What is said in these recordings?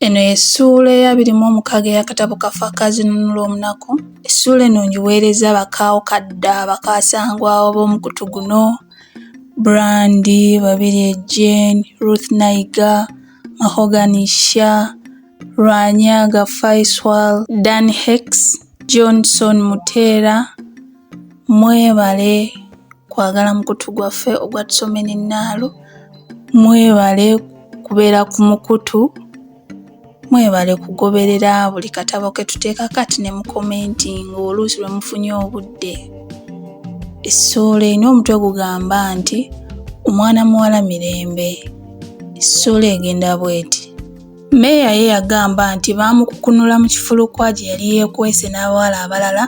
Eno y'essuula ey'abiri mu omukaaga ey'akatabo kaffe aka Zinunula Omunaku. Essuula eno ngiweerezza bakaawo kadda bakaasangwawo b'omukutu guno, Brandi, Babirye Jane, Ruth Naiga, Mahogany Sha, Rwanyaga Faiswal, Dan Hex, Johnson Muteera, Mwebale kwagala mukutu gwaffe ogwa Tusomeni Naalu. Mwebale kubeera ku mukutu. Mwebale kugoberera buli katabo ke tuteeka kati ne mukomentinga oluusi lwe mufunye obudde. Essuula erina omutwe gugamba nti omwana muwala mirembe. Essuula egenda bweti. Meeya ye yagamba nti baamukukunula mu kifulukwa gye yali yeekwese n'abawala abalala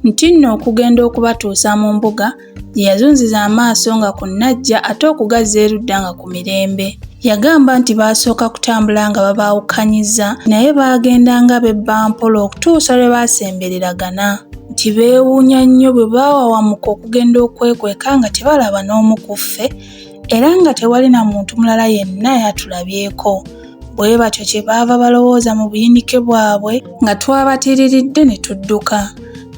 nti nno okugenda okubatuusa mu mbuga gye yazunziza amaaso nga ku Najja ate okugazza erudda nga ku mirembe. Yagamba nti baasooka kutambula nga babaawukanyizza naye baagenda nga bebba mpola okutuusa lwe baasembereragana nti beewuunya nnyo bwe baawawamuka okugenda okwekweka nga tebalaba n'omu ku ffe era nga tewali na muntu mulala yenna yatulabyeko. Bwe batyo kye baava balowooza mu buyinike bwabwe nga twabatiriridde ne tudduka.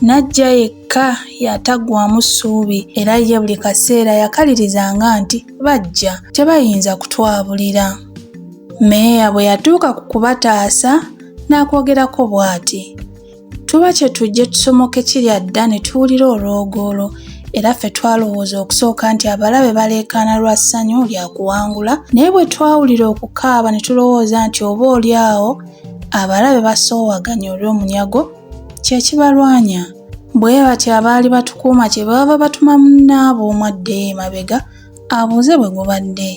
Najja yekka yataggwaamu ssuubi era ye buli kaseera yakalirizanga nti bajja, tebayinza kutwabulira. Meeya bwe yatuuka ku kubataasa n'akwogerako bw'ati. tuba kye tujje tusomoke kirya dda ne tuwulira olwogoolo era ffe twalowooza okusooka nti abalabe baleekaana lwa ssanyu lya kuwangula naye bwe twawulira okukaaba ne tulowooza nti oba oli awo abalabe basoowaganya olw'omunyago kye kibalwanya bwe batyo abaali batukuuma kye baava batuma munnaabwe omu addeyo emabega abuuze bwe gubadde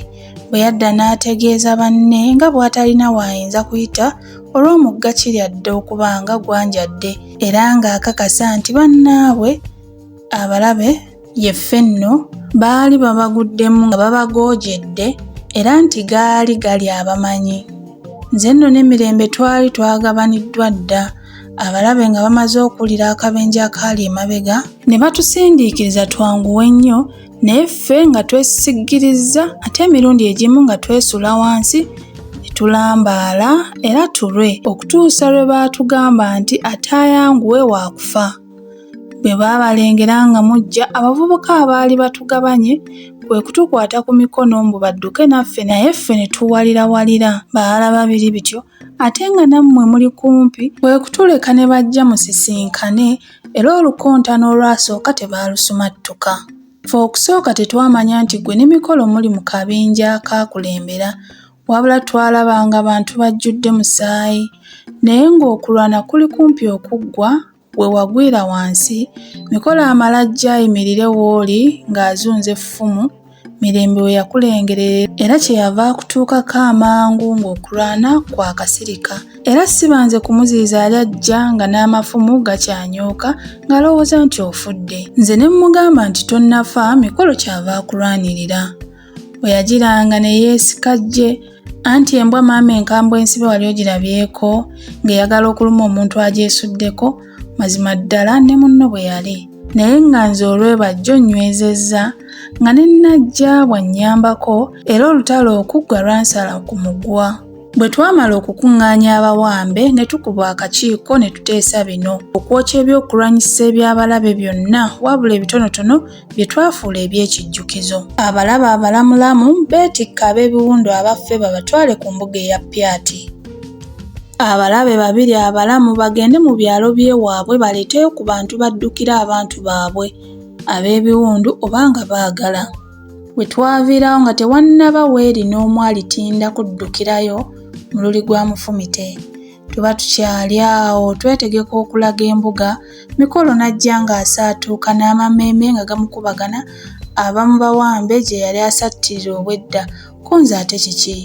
bwe yadda n'ategeeza banne nga bw'atalina waayinza kuyita olw'omugga Kiryadde okuba nga gwanjadde era ng'akakasa nti bannaabwe abalabe ye Fenno baali babaguddemu nga babagoojedde era nti gaali gali abamanyi. Nze nno ne Mirembe twali twagabaniddwa dda abalabe nga bamaze okuwulira akabenje akaali emabega ne batusindiikiriza twanguwe nnyo naye ffe nga twesisiggirizza ate emirundi egimu nga twesula wansi tulambaala era tulwe okutuusa lwe baatugamba nti ataayanguwe waakufa bwe baabalengera nga mujja abavubuka abaali batugabanye kwe kutukwata ku mikono mbu badduke naffe naye ffe ne tuwalirawalira baalaba biri bityo ate nga nammwe muli kumpi kwe kutuleka ne bajja musisinkane era olukontana olwasooka tebaalusumattuka. Ffe okusooka tetwamanya nti ggwe ne mikolo muli mu kabinja akaakulembera wabula twalaba nga bantu bajjudde musaayi naye ng'okulwana kuli kumpi okuggwa, we wagwira wansi mikolo amalajja ayimirire wooli ng'azunza effumu mirembe we yakulengere era kye yava akutuukako amangu ng'okulwana kwa kasirika era sibanze kumuziyiza yali ajja nga n'amafumu gakyanyooka ng'alowooza nti ofudde nze ne mmugamba nti tonnafa mikolo kyava akulwanirira bwe yagiranga ne yeesika ggye anti embwa maama enkambwe ensibe wali ogirabyeko ng'eyagala okuluma omuntu agyesuddeko mazima ddala ne munno bwe yali naye nga nze olwebajjo nnywezezza nga ne nnajja bw'annyambako era olutalo okuggwa lwansala ku mugwa bwe twamala okukuŋŋaanya abawambe ne tukuba akakiiko ne tuteesa bino okwokya ebyokulwanyisa eby'abalabe byonna wabula ebitonotono bye twafuula eby'ekijjukizo. Abalaba abalamulamu beetikka ab'ebiwundu abaffe babatwale ku mbuga eya Pyati. Abalabe babiri abalamu bagende mu byalo by'ewaabwe baleeteyo ku bantu baddukira abantu baabwe ab'ebiwundu oba nga baagala. We twaviirawo nga tewannaba weeri n'omu alitinda kuddukirayo mululi gwa mufumite. tuba tukyali awo twetegeka okulaga embuga mikolo n'ajja ng'asaatuuka n'amameeme nga gamukubagana abamu bawambe gye yali asattirira obwedda ku nze ate kiki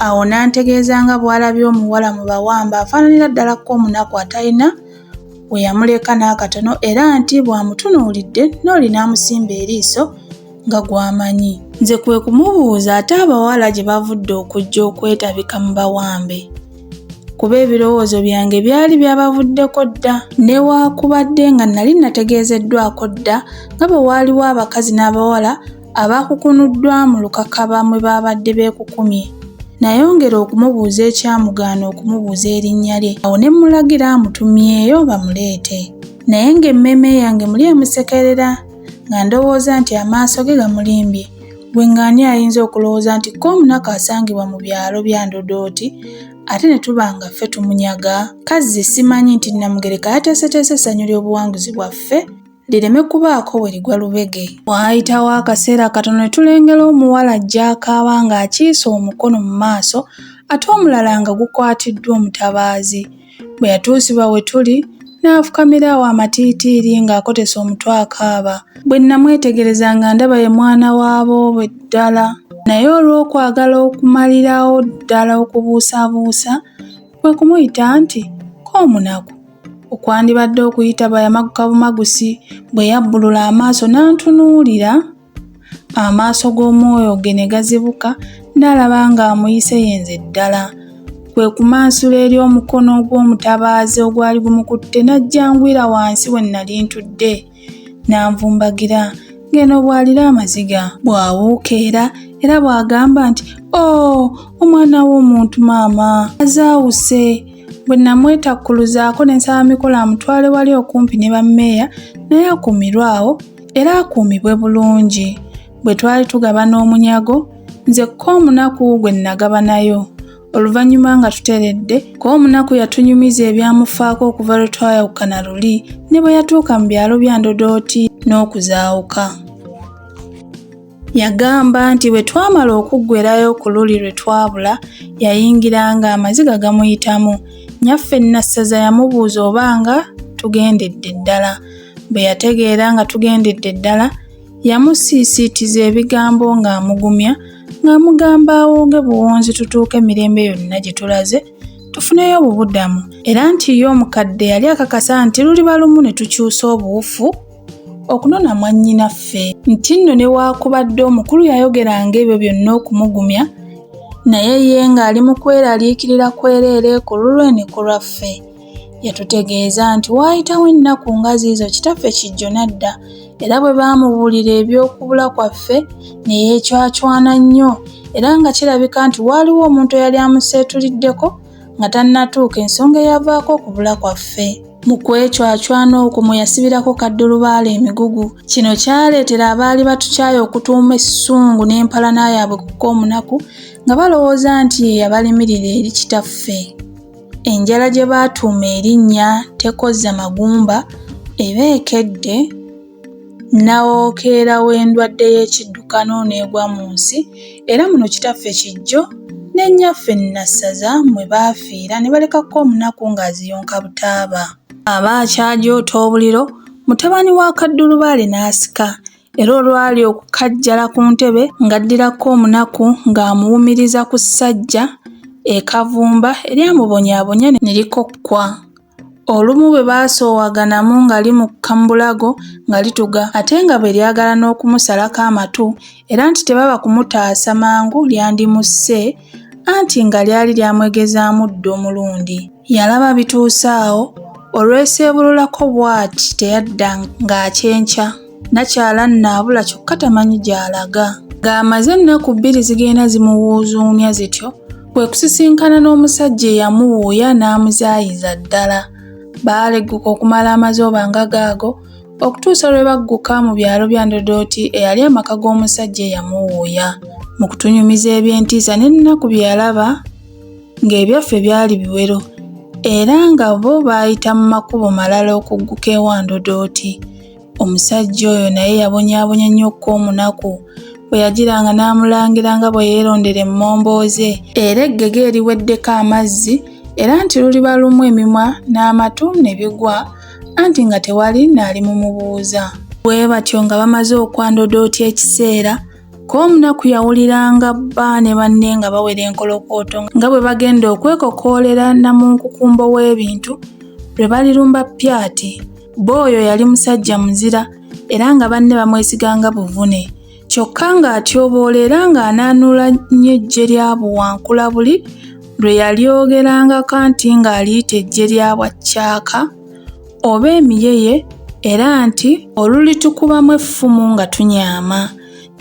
awo n'antegeeza nga bw'alabye omuwala mu bawamba afaananira ddala ko omunaku atalina we yamuleka n'akatono era nti bw'amutunuulidde n'oli n'amusimba eriiso nga gw'amanyi. Nze kwe kumubuuza ate abawala gye bavudde okujja okwetabika mu bawambe kuba ebirowoozo byange byali byabavuddeko dda newaakubadde nga nali nategeezeddwako dda nga bwe waaliwo abakazi n'abawala abaakukunuddwa mu lukakaba mwe baabadde beekukumye nayongera okumubuuza ekyamugaana okumubuuza erinnya lye awo ne mmulagira amutumyeyo bamuleete naye ng'emmeeme yange muli emusekerera nga ndowooza nti amaaso ge gamulimbye gwe ng'ani ayinza okulowooza nti ko omunaku asangibwa mu byalo bya ndodooti ate ne tuba nga ffe tumunyaga kazzi simanyi nti namugereka yateeseteese essanyu ly'obuwanguzi bwaffe lireme kubaako we ligwa lubege waayitawo akaseera katono ne tulengera omuwala jjaakaaba ng'akiisa omukono mu maaso ate omulala nga gukwatiddwa omutabaazi Bwe yatuusibwa we tuli, n'afukamira awo amatiitiiri ng'akotese omutwe akaaba. Bwe nnamwetegereza nga ndaba ye mwana wa boobe ddala. Naye olw'okwagala okumalirawo ddala okubuusabuusa, kwe kumuyita nti, Ko omunaku! Okwandibadde okuyita bayamagukabumagusi, bwe yabbulula amaaso n'antunuulira. Amaaso g'omwoyo ge ne gazibuka, n'alaba ng'amuyise yenze ddala. Kwe kumansula eri omukono ogw'omutabaazi ogwali gumukutte n'ajjangwira wansi we nnali ntudde. N'anvumbagira ng'eno bw'alira amaziga. Bw'awuuka era era bw'agamba nti, O, oh, omwana w'omuntu maama! Azaawuse! Bwe namwetakkuluzaako ne nsaba mikolo amutwale wali okumpi ne bammeeya naye akuumirwe awo. era akuumibwe bulungi bwe twali tugabana omunyago nze ko omunaku gwe nnagabanayo oluvannyuma nga tuteredde ko omunaku yatunyumiza ebyamufaako okuva lwe twayawukana luli ne bwe yatuuka mu byalo bya ndodooti n'okuzaawuka Yagamba nti bwe twamala okuggwerayo ku luli lwe twabula, yayingira ng'amaziga gamuyitamu. Nnyaffe Nassaza yamubuuza oba nga tugendedde ddala. Bwe yategeera nga tugendedde ddala, yamusiisiitiza ebigambo ng'amugumya ng'amugamba awonge buwonzi tutuuke mirembe yonna gye tulaze tufuneyo obubudamu era nti ye omukadde yali akakasa nti luliba lumu ne tukyusa obuwufu okunona mwannyinaffe nti nno newaakubadde omukulu yayogeranga ebyo byonna okumugumya naye ye ng'ali mu kweraliikirira kwereere ku lulwe ne ku lwaffe yatutegeeza nti waayitawo ennaku nga ziizo kitaffe kijjo n'adda era bwe baamubuulira eby'okubula kwaffe ne yeecwacwana nnyo era nga kirabika nti waaliwo omuntu eyali amuseetuliddeko nga tannatuuka ensonga eyavaako okubula kwaffe. Mu kwecwacwana okwo mwe yasibirako kaddulubaale emigugu. Kino kyaleetera abaali batukyaye okutuuma essungu n'empalana yaabwe ku Koomunaku nga balowooza nti ye yabalimirira eri kitaffe. Enjala gye baatuuma erinnya tekozza magumba eba ekedde. nnawookeera w'endwadde y'ekiddukano n'egwa mu nsi, era muno Kitaffe Kijjo ne Nnyaffe Nassaza mwe baafiira ne balekako omunaku ng'aziyonka butaaba. Aba akyajoota obuliro, mutabani wa Kaddulubaale n'asika, era olwali okukajjala ku ntebe ng'addirako omunaku ng'amuwumiriza ku ssajja e Kavumba eryamubonyaabonya ne likokkwa. Olumu bwe baasoowaganamu nga limukka mu bulago nga lituga ate nga bwe lyagala n'okumusalako amatu era nti tebaba kumutaasa mangu lyandimusse anti nga lyali lyamwegezaamu dda omulundi. Yalaba bituuse awo, olweseebululako bw'ati teyadda ng'akyenkya. Nakyala nnaabula kyokka tamanyi gy'alaga. Ng'amaze ennaku bbiri zigenda zimuwuuzuumya zityo, kwe kusisinkana n'omusajja eyamuwuuya n'amuzaayiza ddala. Baalegguka okumala amazooba nga gaago okutuusa lwe bagguka mu byalo bya Ndodooti eyali amaka g'omusajja eyamuwuuya. Mu kutunyumiza eby'entiisa n'ennaku bye yalaba ng'ebyaffe byali biwero era nga bo baayita mu makubo malala okugguka ewa Ndodooti. Omusajja oyo naye yabonyaabonya nnyo okuka omunaku bwe yagiranga n'amulangira nga bwe yeerondera emmombooze era eggege eriweddeko amazzi era nti luliba lumu emimwa n'amatu ne bigwa anti nga tewali naali mu mubuuza bwe batyo nga bamaze okwandodooti ekiseera k'omunaku yawuliranga bba ne banne nga bawera enkolokooto nga bwe bagenda okwekokoolera namunkukumbo w'ebintu lwe balirumba pyati Bbo oyo yali musajja muzira era nga banne bamwesiganga buvune kyokka ng'atyoboola era ng'anaanuula nnyo eggye lya buwankula buli lwe yalyogerangako anti ng'aliyita eggye lya bwaccaaka oba emiyeye era nti olulitukubamu effumu nga tunyaama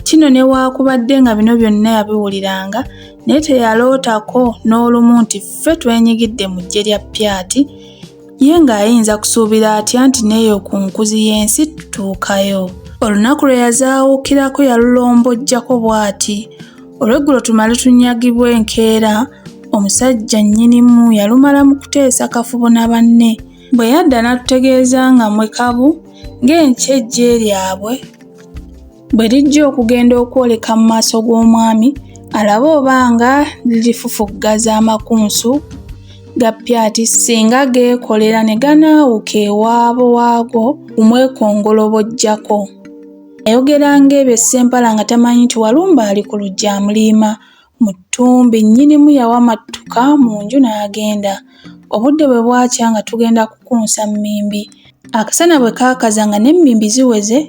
kino newaakubadde nga bino byonna yabiwuliranga naye teyalootako n'olumu nti ffe twenyigidde mu ggye lya pyati Ye ng'ayinza kusuubira atya nti n'eyo ku nkuzi y'ensi tutuukayo? Olunaku lwe yazaawukirako yalulombojjako bw'ati, Olweggulo tumale tunyagibwe enkeera, omusajja nnyinimu yalumala mu kuteesa kafubo na banne. Bwe yadda n'atutegeeza nga mwe kabu ng'enkya eggye lyabwe bwe lijja okugenda okwoleka mu maaso g'omwami alabe oba nga lirifufuggaza amakunsu ga pyati singa geekolera ne ganaawuka ewaabo waago kumwekongolobojjako ayogera ng'ebyo ssempala nga tamanyi nti walumba ali ku lujja amuliima mu ttumbi nnyinimu yawa mattuka mu nju n'agenda obudde bwe bwakya nga tugenda kukunsa mmimbi akasana bwe kaakaza nga n'emmimbi ziweze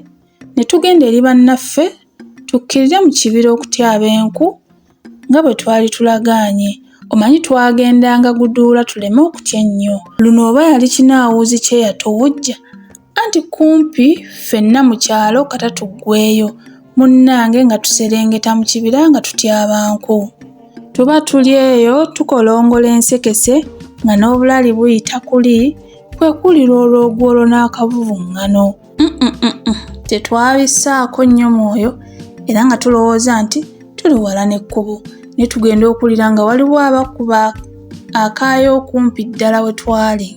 ne tugenda eri bannaffe tukkirire mu kibira okutyaba enku nga bwe twali tulagaanye omanyi twagendanga guduula tuleme okutya ennyo luno oba yali kinaawuuzi kye yatowojja anti kumpi ffenna mu kyalo kata tuggweeyo munnange nga tuserengeta mu kibira nga tutyaba nku tuba tuli eyo tukolongola ensekese nga n'obulali buyita kuli kwe kulira olw'ogwolo n'akavuvuŋŋano tetwabisaako nnyo mwoyo era nga tulowooza nti tuli wala n'ekkubo ne tugenda okuwulira nga waliwo abakuba akaayo okumpi ddala we twali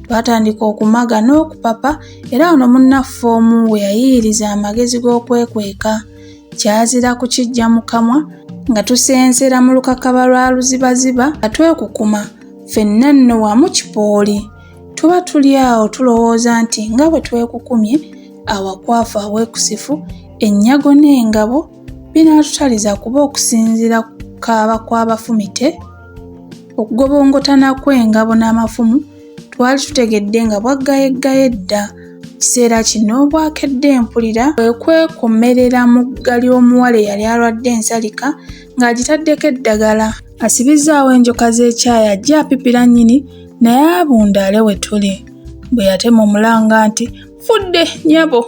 twatandika okumaga n'okupapa era ono munnaffe omu we yayiiriza amagezi g'okwekweka kyazira kukijja mu kamwa nga tusensera mu lukakaba lwa luzibaziba nga twekukuma ffenna nno wamu kipooli tuba tuli awo tulowooza nti nga bwe twekukumye awakwafu awekusifu ennyago n'engabo binaatutaliza kuba okusinziira ku kaaba kw'abafumite okugobongotana kw'engabo n'amafumu twali tutegedde nga bwaggayeggaye dda kiseera kino obwakedde mpulira kwe kwekomerera mu gga ly'omuwala eyali alwadde ensalika ng'agitaddeko eddagala asibizzaawo enjoka z'ekyayi ajja apipira nnyini naye abundaale we tuli bwe yatema omulanga nti fudde nyabo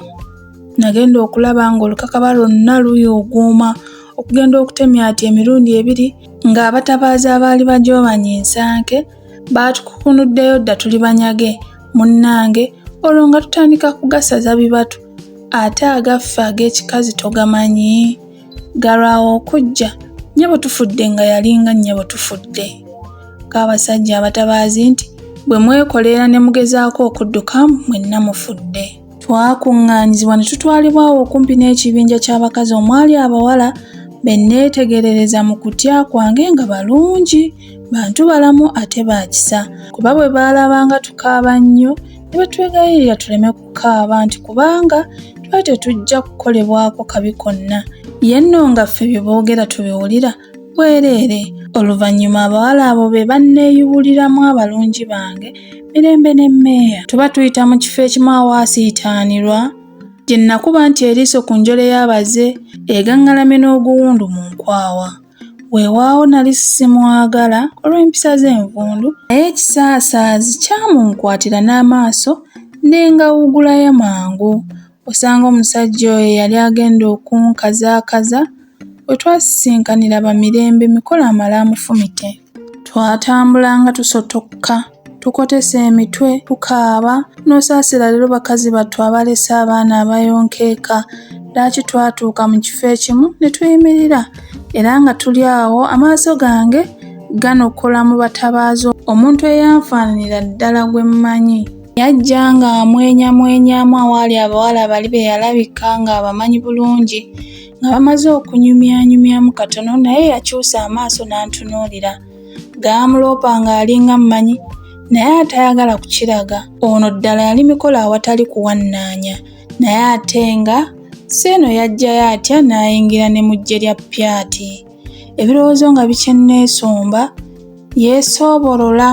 nagenda okulaba ng'olukakaba lwonna luyuuguuma okugenda okutemya ati emirundi ebiri ng'abatabaazi abaali bajoobanya ensanke baatukukunuddeyo dda tuli banyage munnange olwo nga tutandika kugasaza bibatu ate agaffe ag'ekikazi togamanyi Galwawo okujja, nnyabo tufudde nga yali nga nnyabo tufudde. K'abasajja abatabaazi nti, Bwe mwekoleera ne mugezaako okudduka, mwenna mufudde. Twakuŋŋaanyizibwa ne tutwalibwa awo okumpi n'ekibinja ky'abakazi omwali abawala be nneetegerereza mu kutya kwange nga balungi, bantu balamu ate ba kisa, kuba bwe baalabanga tukaaba nnyo ne batwegayirira tuleme okukaaba nti kubanga tuba tetujja kukolebwako kabi konna ye nno nga ffe bye boogera tubiwulira bwereere oluvannyuma abawala abo be banneeyubuliramu abalungi bange mirembe ne mmeeya tuba tuyita mu kifo ekimu awaasiitaanirwa gye nnakuba nti eriiso ku njole y'abaze egaŋŋalamye n'oguwundu mu nkwawa Weewaawo nali simwagala olw'empisa ze envundu, naye ekisaasaazi kyamunkwatira n'amaaso ne ngawugulayo mangu. Osanga omusajja oyo eyali agenda okunkazaakaza we twasisinkanira Bamirembe mikolo amale amufumite. twatambulanga tusotokka tukotesa emitwe tukaaba n'osaasira leero bakazi battu abalese abaana abayonkeeka lwaki twatuuka mu kifo ekimu ne tuyimirira era nga tuli awo amaaso gange ganokola mu batabaazi omuntu eyanfaananira ddala gwe mmanyi yajja ng'amwenyamwenyamu awaali abawala bali be yalabika ng'abamanyi bulungi nga bamaze okunyumyanyumyamu katono naye yakyusa amaaso n'antunuulira gaamuloopa ng'alinga mmanyi naye atayagala kukiraga ono ddala yali mikolo awatali kuwannaanya naye ate nga si eno yajjayo atya n'ayingira ne mu ggye lya pyati ebirowoozo nga bikyenneesomba yeesoobolola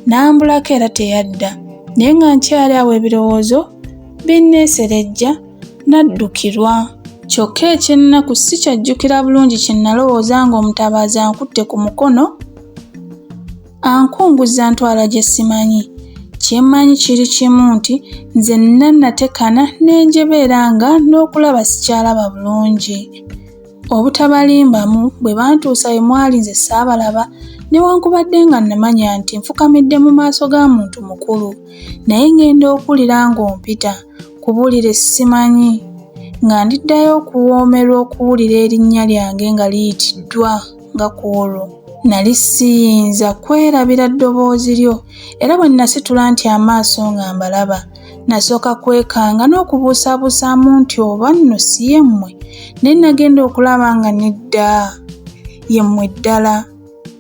n'ambulako era teyadda naye nga nkyali awo ebirowoozo binneeserejja naddukirwa kyokka ekyennaku si kyajjukira bulungi kye nalowooza ng'omutabaazi ankutte ku mukono ankunguzza ntwala gye simanyi kyemmanyi kiri kimu nti nze nna natekana n'enjebeera nga n'okulaba sikyalaba bulungi Obutabalimbamu bwe bantuusa we mwali nze saabalaba newankubadde nga namanya nti nfukamidde mu maaso ga muntu mukulu naye ngenda okuwulira ng'ompita kubuulire simanyi nga ndiddayo okuwoomerwa okuwulira erinnya lyange nga liyitiddwa nga ku olwo nali siyinza kwerabira ddoboozi lyo era bwe nasitula nti amaaso nga mbalaba Nasooka kwekanga n'okubuusabuusaamu nti oba nno si ye mmwe, naye nagenda okulaba nga nedda ye mmwe ddala.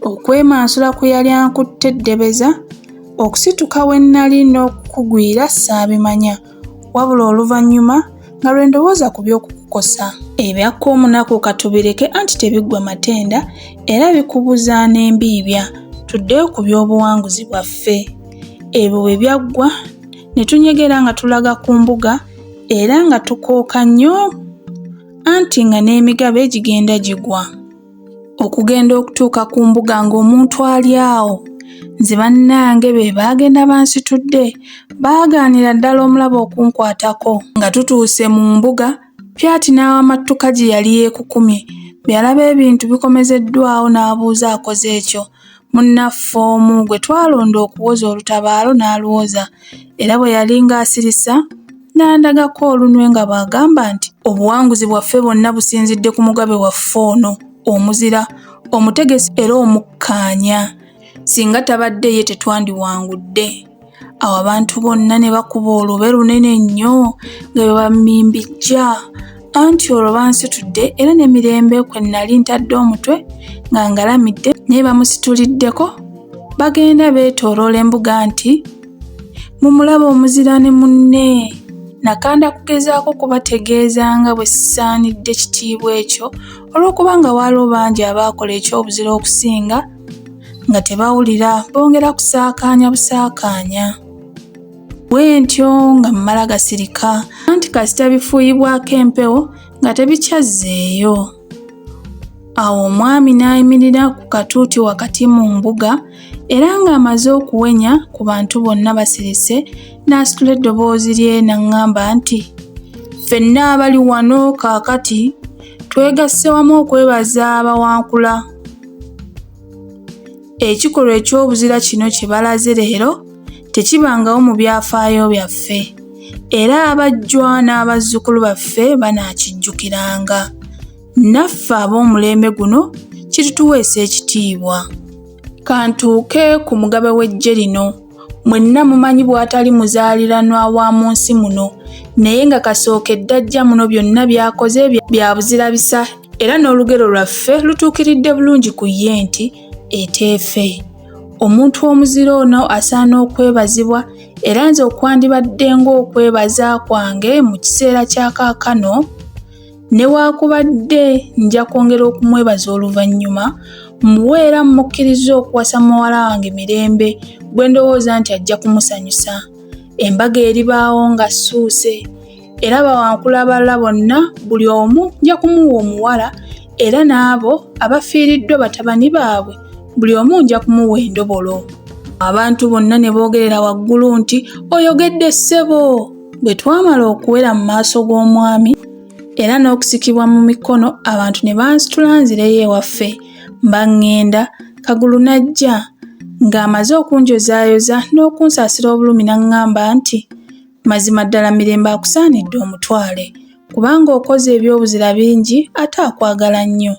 Okwemansula kwe yali ankutte eddebeza, okusituka we nnali n'okukugwira saabimanya, wabula oluvannyuma, nga lwe ndowooza ku by'okukukosa ebyakka omunaku katubireke anti tebiggwa matenda era bikubuza n'embiibya tuddeyo ku by'obuwanguzi bwaffe ebyo bwe byaggwa ne tunyegera nga tulaga ku mbuga era nga tukooka nnyo anti nga n'emigabe gigenda gigwa okugenda okutuuka ku mbuga ng'omuntu ali awo nze bannange be baagenda bansitudde baagaanira ddala omulaba okunkwatako nga tutuuse mu mbuga pyati n'awamattuka gye yali yeekukumye byalaba ebintu bikomezeddwawo n'abuuza akoze ekyo Munnaffe omu gwe twalonda okuwoza olutabaalo n'aluwoza era bwe yali ng'asirisa n'andagako olunwe nga bw'agamba nti obuwanguzi bwaffe bwonna businzidde ku mugabe waffe ono omuzira omutegesi era omukkaanya singa tabadde ye tetwandiwangudde. awo abantu bonna ne bakuba olube lunene nnyo nga bwe bammimbijja anti olwo bansitudde era n'emirembe kwe nnali ntadde omutwe nga ngalamidde naye bamusituliddeko bagenda beetooloola embuga nti mumulaba omuzira ne munne nakanda kugezaako kubategeeza nga bwe sisaanidde kitiibwa ekyo olw'okuba nga waaliwo bangi abaakola eky'obuzira okusinga nga tebawulira bongera kusaakaanya busaakaanya bwe ntyo nga mmala gasirika anti kasita bifuuyibwako empewo nga tebikyazzeeyo awo omwami n'ayimirira ku katuuti wakati mu mbuga era ng'amaze okuwenya ku bantu bonna basirise n'asitula eddoboozi lye n'aŋŋamba nti ffenna abali wano kaakati twegasse wamu okwebaza abawankula Ekikolwa eky'obuzira kino kye balaze leero tekibangawo mu byafaayo byaffe, era abajjwa n'abazzukulu baffe banaakijjukiranga. Naffe ab'omulembe guno kirituweesa ekitiibwa. Kantuuke ku mugabe w'eggye lino. mwenna mumanyi bw'atali muzaaliranwa wa mu nsi muno naye nga kasookedde ajja muno byonna by'akoze bya buzirabisa era n'olugero lwaffe lutuukiridde bulungi ku ye nti eteefe omuntu omuzira ono asaana okwebazibwa era nze okwandibadde ng'okwebaza kwange mu kiseera kya kaakano Newaakubadde nja kwongera okumwebaza oluvannyuma, mmuwe era mmukkirizza okuwasa muwala wange Mirembe gwe ndowooza nti ajja kumusanyusa. Embaga eribaawo nga ssuuse era bawankula abalala bonna buli omu nja kumuwa omuwala era n'abo abafiiriddwa batabani baabwe buli omu nja kumuwa endobolo. Abantu bonna ne boogerera waggulu nti, Oyogedde ssebo! Bwe twamala okuwera mu maaso g'omwami era n'okusikibwa mu mikono abantu ne bansitula nzireyo ewaffe mba ŋŋenda kagulu n'ajja ng'amaze okunjozaayoza n'okunsaasira obulumi n'aŋŋamba nti mazima ddala mirembe akusaanidde omutwale kubanga okoze ebyobuzira bingi ate akwagala nnyo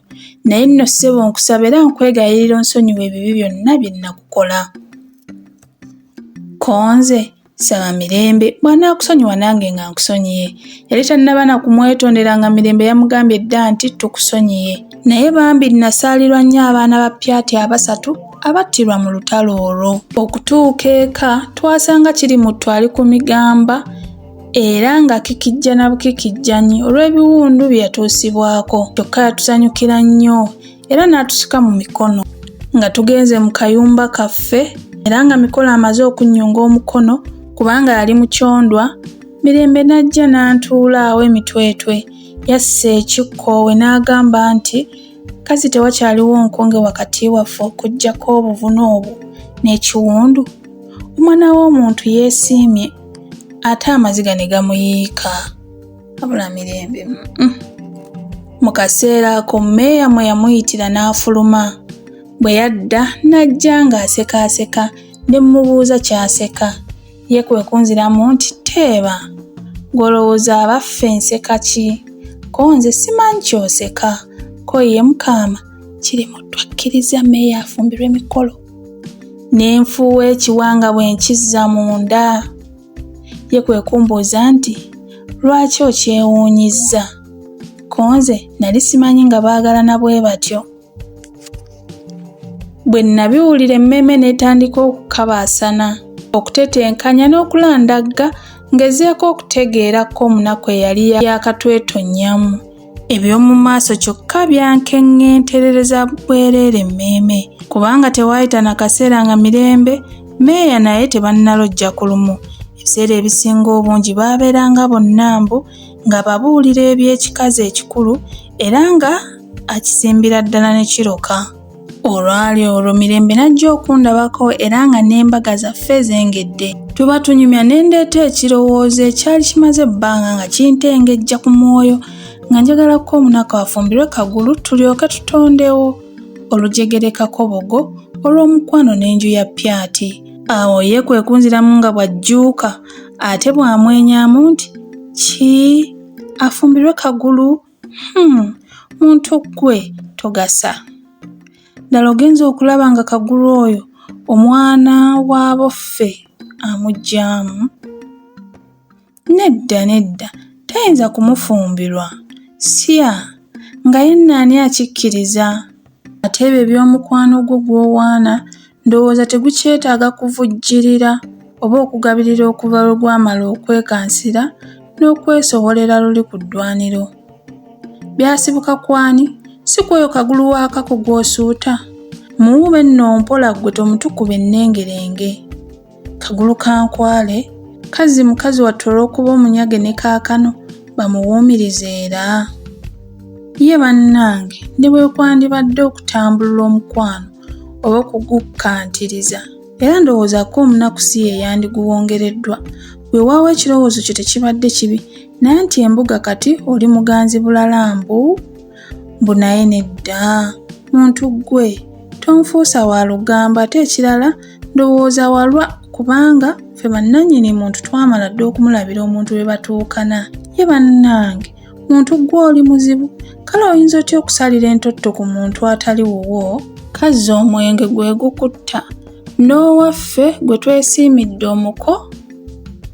naye nno ssebo nkusaba era nkwegayirira onsonyiwa ebibi byonna bye nnakukola konze Saba Mirembe bw'anaakusonyiwa nange nga nkusonyiye. Yali tannaba na kumwetondera nga Mirembe yamugambye dda nti tukusonyiye. Naye bambi nnasaalirwa nnyo abaana ba Pyati abasatu abattirwa mu lutalo olwo. Okutuuka eka twasanga Kirimuttu ali ku migamba era nga kikijja na bukikijjanyi olw'ebiwundu bye yatuusibwako. Kyokka yatusanyukira nnyo. era n'atusika mu mikono nga tugenze mu kayumba kaffe era nga mikolo amaze okunnyunga omukono kubanga yali mu kyondwa mirembe n'ajja n'antuulaawo emitwetwe yassa ekikkoowe n'agamba nti kazi tewakyaliwo nkonge wakati waffe okuggyako obuvune obwo n'ekiwundu omwana w'omuntu yeesiimye ate amaziga ne gamuyiika abula mirembe mm. mu kaseera ako meeya mwe yamuyitira n'afuluma bwe yadda n'ajja ng'asekaaseka ne mmubuuza ky'aseka ye kwe kunziramu nti teeba gw'olowooza abaffe nseka ki ko nze simanyi ky'oseka ko ye mukaama kiri mu twakkiriza meeya afumbirwa emikolo ne nfuuwa ekiwanga bwe nkizza munda Ye kwe kumbuuza nti, Lwaki okyewuunyizza? Ko nze nali simanyi nga baagalana bwe batyo. Bwe nnabiwulira emmeeme n'etandika okukabaasana, okutetenkanya n'okulandagga ngezeeko okutegeera ko munaku eyali yaakatwetonnyamu. eby'omu maaso kyokka byankeŋŋenterereza bwereere mmeeme kubanga tewaayita na kaseera nga mirembe meeya naye tebannalojja ku lumu ebiseera ebisinga obungi baabeeranga bonna mbu nga babuulira eby'ekikazi ekikulu era nga akisimbira ddala ne kiroka olwali olwo mirembe n'ajja okundabako era nga n'embaga zaffe zengedde tuba tunyumya ne ndeeta ekirowoozo ekyali kimaze ebbanga nga kintengejja ku mwoyo nga njagala ko omunaku afumbirwe kagulu tulyoke tutondewo olujegerekako bogo olw'omukwano n'enju ya pyati awo ye kwe kunziramu nga bw'ajjuuka ate bw'amwenyamu nti ki afumbirwe kagulu Hmm, muntu ggwe togasa. Ddala ogenze okulaba nga Kagulu oyo omwana wa boffe amuggyamu? Nedda nedda, tayinza kumufumbirwa. Sya! Nga yenna ani akikkiriza? Ate ebyo eby'omukwano gwo gw'owaana Ndowooza tegukyetaaga kuvujjirira oba okugabirira okuva lwe gwamala okwekansira n'okwesobolera luli ku ddwaniro. Byasibuka kwani? Si kwoyo kagulu wa kako gw'osuuta? Muwuube nno mpola ggwe tomutukuba ennengerenge. Kagulu ka nkwale kazzi mukazi wattu olw'okuba omunyage ne kaakano bamuwuumiriza era ye bannange ne bwe kwandibadde okutambulula omukwano oba okugukkantiriza era ndowooza ko omunaku si ye yandiguwongereddwa weewaawo ekirowoozo kye tekibadde kibi naye nti embuga kati oli muganzi bulala mbu mbu naye nedda muntu ggwe tonfuusa wa lugambo ate ekirala Ndowooza walwa kubanga ffe bannannyini muntu twamala dda okumulabira omuntu we batuukana. Ye bannange, muntu ggwe oli muzibu, kale oyinza otya okusalira entotto ku muntu atali wuwo? Kazza omwenge gwe gukutta, n'owaffe gwe twesiimidde omuko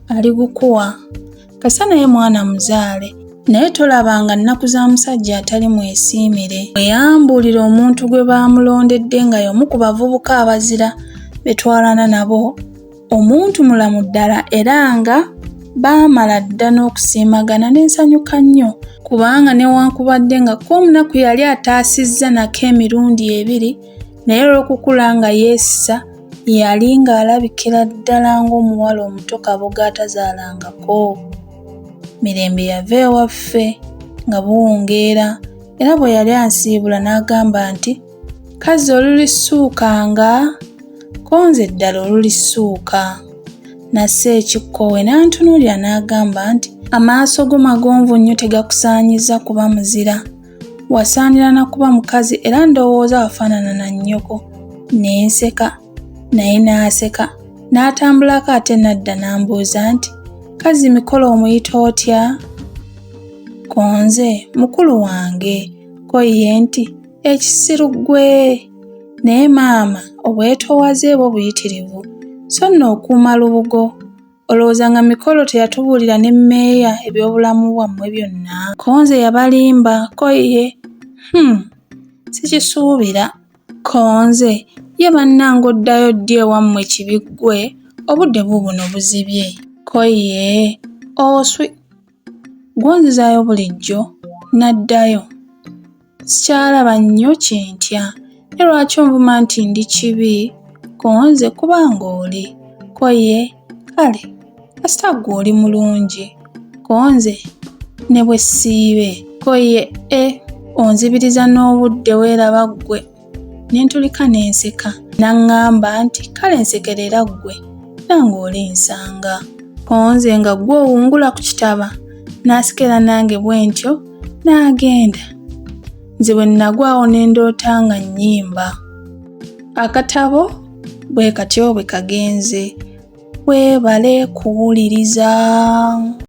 aligukuwa. kasa naye mwana muzaale naye tolabanga nnaku za musajja atali mwesiimire bwe yambuulira omuntu gwe baamulondedde nga y'omu ku bavubuka abazira betwalana nabo omuntu mulamu ddala era nga baamala dda n'okusiimagana n'ensanyuka nnyo kubanga newankubadde nga kko omunaku yali ataasizza nako emirundi ebiri naye olw'okukula nga yeesisa yali ng'alabikira ddala ng'omuwala omuto kaboga atazaalangako. Mirembe yava ewaffe nga buwungeera era bwe yali ansiibula n'agamba nti, Kazzi olulisuukanga? Ko nze ddala olulisuuka. Nassa ekikkowe n'antunuulira n'agamba nti, Amaaso go magonvu nnyo tegakusaanyizza kuba muzira. Wasaanira na kuba mukazi era ndowooza wafaanana na nnyoko. Ne nseka, naye n'aseka. N'atambulako ate n'adda n'ambuuza nti, Kazzi mikolo omuyita otya? Ko nze, mukulu wange. Ko ye nti, Ekisiru ggwe! Naye maama, obwetoowaze bwo buyitirivu, so nno okuuma lubugo. Olowooza nga mikolo teyatubuulira ne meeya ebyobulamu bwammwe byonna? Ko nze yabalimba, ko ye, hmm, sikisuubira. Ko nze, ye bannange oddayo ddi ewammwe kibi ggwe, obudde buubuno buzibye. Ko ye, oswi. Gwonzizaayo bulijjo, n'addayo. Sikyalaba nnyo kye ntya. Naye lwaki onvuma nti ndi kibi ku nze kuba ng'oli? Ko ye, Kale, kasita ggwe oli mulungi ku nze ne bwe siibe. Ko ye, E, onzibiriza n'obudde weeraba ggwe ne ntulika ne nseka n'aŋŋamba nti kale nsekerera ggwe nange oli nsanga onze nga ggwe owungula ku kitaba n'asikera nange bwe ntyo n'agenda nze bwe nnagwawo ne ndoota nga nnyimba akatabo bwe katyo bwe kagenze weebale kuwuliriza